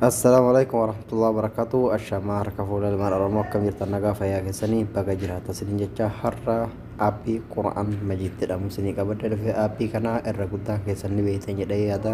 Assalaamu alaikum warahmatullahi wabarakatuh Ashamaa harka fuula ilmaan Oromoo akkam jirtan nagaa fayyaa keessanii baga jiraata isiniin jecha har'a aappii Qura'aan Majiid jedhamu isinii qabadde dhufe aappii kana irra guddaan keessan ni beektan jedhee yaada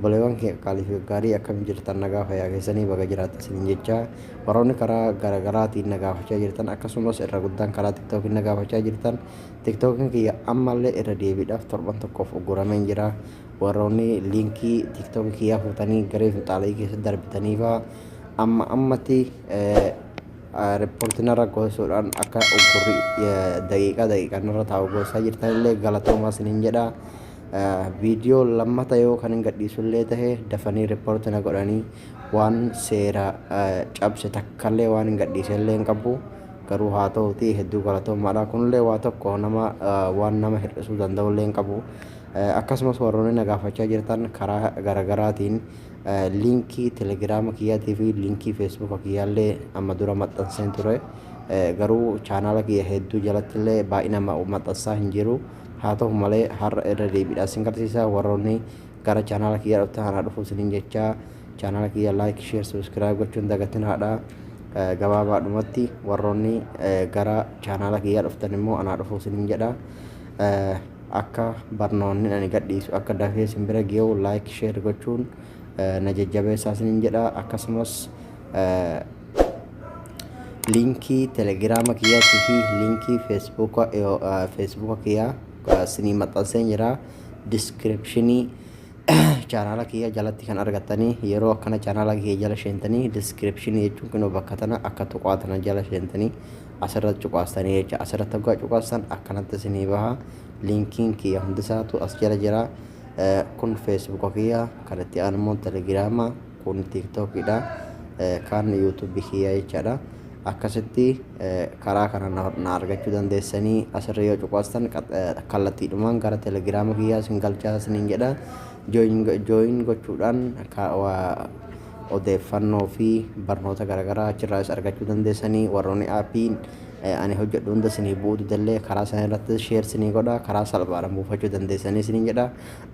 Obboleewwan keenya qaalii fi gaggaarii akkam jirtan nagaa fayyaa keessanii baga jiraattan isiniin jechaa warroonni karaa garagaraatiin na gaafachaa jirtan akkasumas irra guddaan karaa tiktookiin na gaafachaa jirtan tiktookiin kiyya ammallee irra deebiidhaaf torban tokkoof uggurameen jira warroonni liinkii tiktookii kiyyaa fuutanii garee finxaala'ii keessa darbitaniifaa amma ammatti riippoortiin irra gosuudhaan akka uggurri daqiiqaa daqiiqaan irra taa'u gosaa jirtanillee galatoomaa isiniin jedha. Viidiyoo lammata yoo kan hin gadhiisullee tahe dafanii riippoorti na godhanii waan seera cabse takkallee waan hin gadhiisellee hin qabu. Garuu haa ta'uutii hedduu galatoomaadha. Kunillee waa tokko nama waan nama hir'isuu danda'ullee hin qabu. Akkasumas warroonni na gaafachaa jirtan karaa garaagaraatiin liinkii telegiraama kiyyaatii fi liinkii feesbuuka kiyyaallee amma dura maxxanseen ture. Garuu chaanaala kiyya hedduu jalattillee baay'ina maxxansaa hin jiru. haa ta'u malee har'a irra deebiidhaan sin garsiisa warroonni gara chaanaala kiyyaa dhuftan anaa dhufuu sinin jechaa chaanaala kiyya laayik sheer subscribe gochuun dagatin haadha gabaabaadhumatti warroonni gara chaanaala kiyyaa dhuftan immoo anaa dhufuu sinin jedha akka barnoonni ani gadhiisu akka dafee sin bira geewu laayik sheer gochuun na jajjabeessaa sinin jedha akkasumas linkii telegiraama kiyyaatii fi linkii feesbuuka feesbuuka kiyyaa isinii maxxansee jira diskiripshinii chaanaala kiyya jalatti kan argattanii yeroo akkana chaanaala kiyya jala seentanii diskiripshinii jechuun kunoo bakka tana akka tuqaa tana jala seentanii asirratti cuqaastanii jecha asirratti hoggaa cuqaastan akkanatti isinii baha linkiin kiyya hundisaatu as jala jira kun feesbuuka kiyya kan itti aanumoo telegiraama Kun tiktok dha kaan youtube kiyya jechaadha. Akkasitti karaa kana na argachuu dandeessanii asirra yoo cuqaastan kallattiidhumaan gara telegiraama kiyyaa isin galchaa isiniin jedha. Jooyin gochuudhaan odeeffannoo fi barnoota garaagaraa achirraas argachuu dandeessanii warroonni aappii ani hojjedhu hunda isinii bu'uu didallee karaa sana irratti sheer isinii godha karaa salphaadhaan buufachuu dandeessanii isiniin jedha.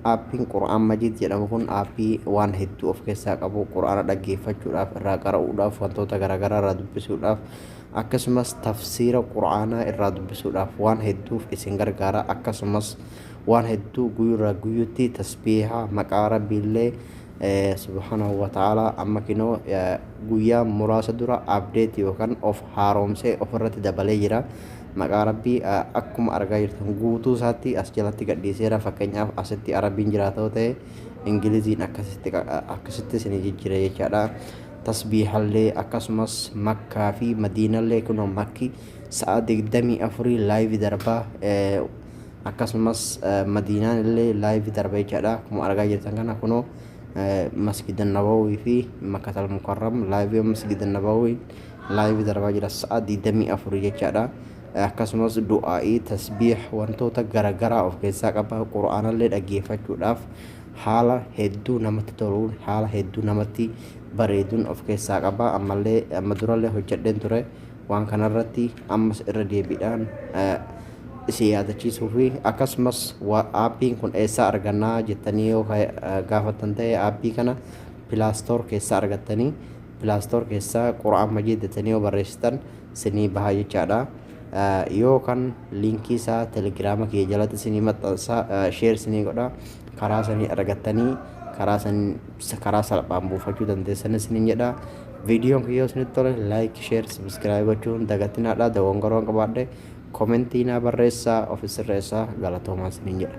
Aappiin Qur'aan Majiid jedhamu kun aappii waan hedduu of keessaa qabu, Qur'aana dhaggeeffachuudhaaf, irraa qara'uudhaaf, wantoota garaagaraa irraa dubbisuudhaaf, akkasumas tafsiira Qur'aanaa irraa dubbisuudhaaf waan hedduuf isin gargaara. Akkasumas waan hedduu guyyurraa guyyutti tasbiiha maqaa Rabbiillee eh, subhaanahu wa ta'ala amma kinoo eh, guyyaa muraasa dura update yookaan of haaromsee ofirratti dabalee jira. maqaa rabbii akkuma argaa jirtan guutuu isaatti as jalatti gadhiiseera fakkeenyaaf asitti arabiin jiraata yoo ta'e ingiliziin akkasitti akkasitti isinii jijjiira jechaadha tasbiihallee akkasumas makkaa fi madiinallee kunoo makki sa'a digdamii afurii laayivi darbaa akkasumas madiinaan illee laayivi darba jechaadha akkuma argaa jirtan kana kunoo masgidan nabawii fi makkatal mukarram laayivi masgidan nabawii live darbaa jira sa'a 24 jechaadha akkasumas du'aa'ii tasbiih wantoota garagaraa of keessaa qaba qura'aanallee dhaggeeffachuudhaaf haala hedduu namatti toluun haala hedduu namatti bareeduun of keessaa qaba ammallee amma durallee hojjedheen ture waan kanarratti ammas irra deebiidhaan isin yaadachiisuu fi akkasumas aappiin kun eessaa argannaa jettanii yoo gaafattan ta'e aappii kana pilaastoor keessaa argattanii Play store keessaa Qur'aan Majiid jettanii yoo barreessitan sinii bahaa jechaadha. Yoo kan liinkii isaa telegiraama kiyya jalatti sinii maxxansa sheer sinii godha karaa sanii argattanii karaa san karaa salphaan buufachuu dandeessan isiniin jedha. Viidiyoon kiyyoo isinitti tole laayik sheer sabiskiraayib gochuun dagatinaadha dogongoroon qabaadhe komentii naa barreessaa ofi sirreessaa galatoomaa isiniin jedha.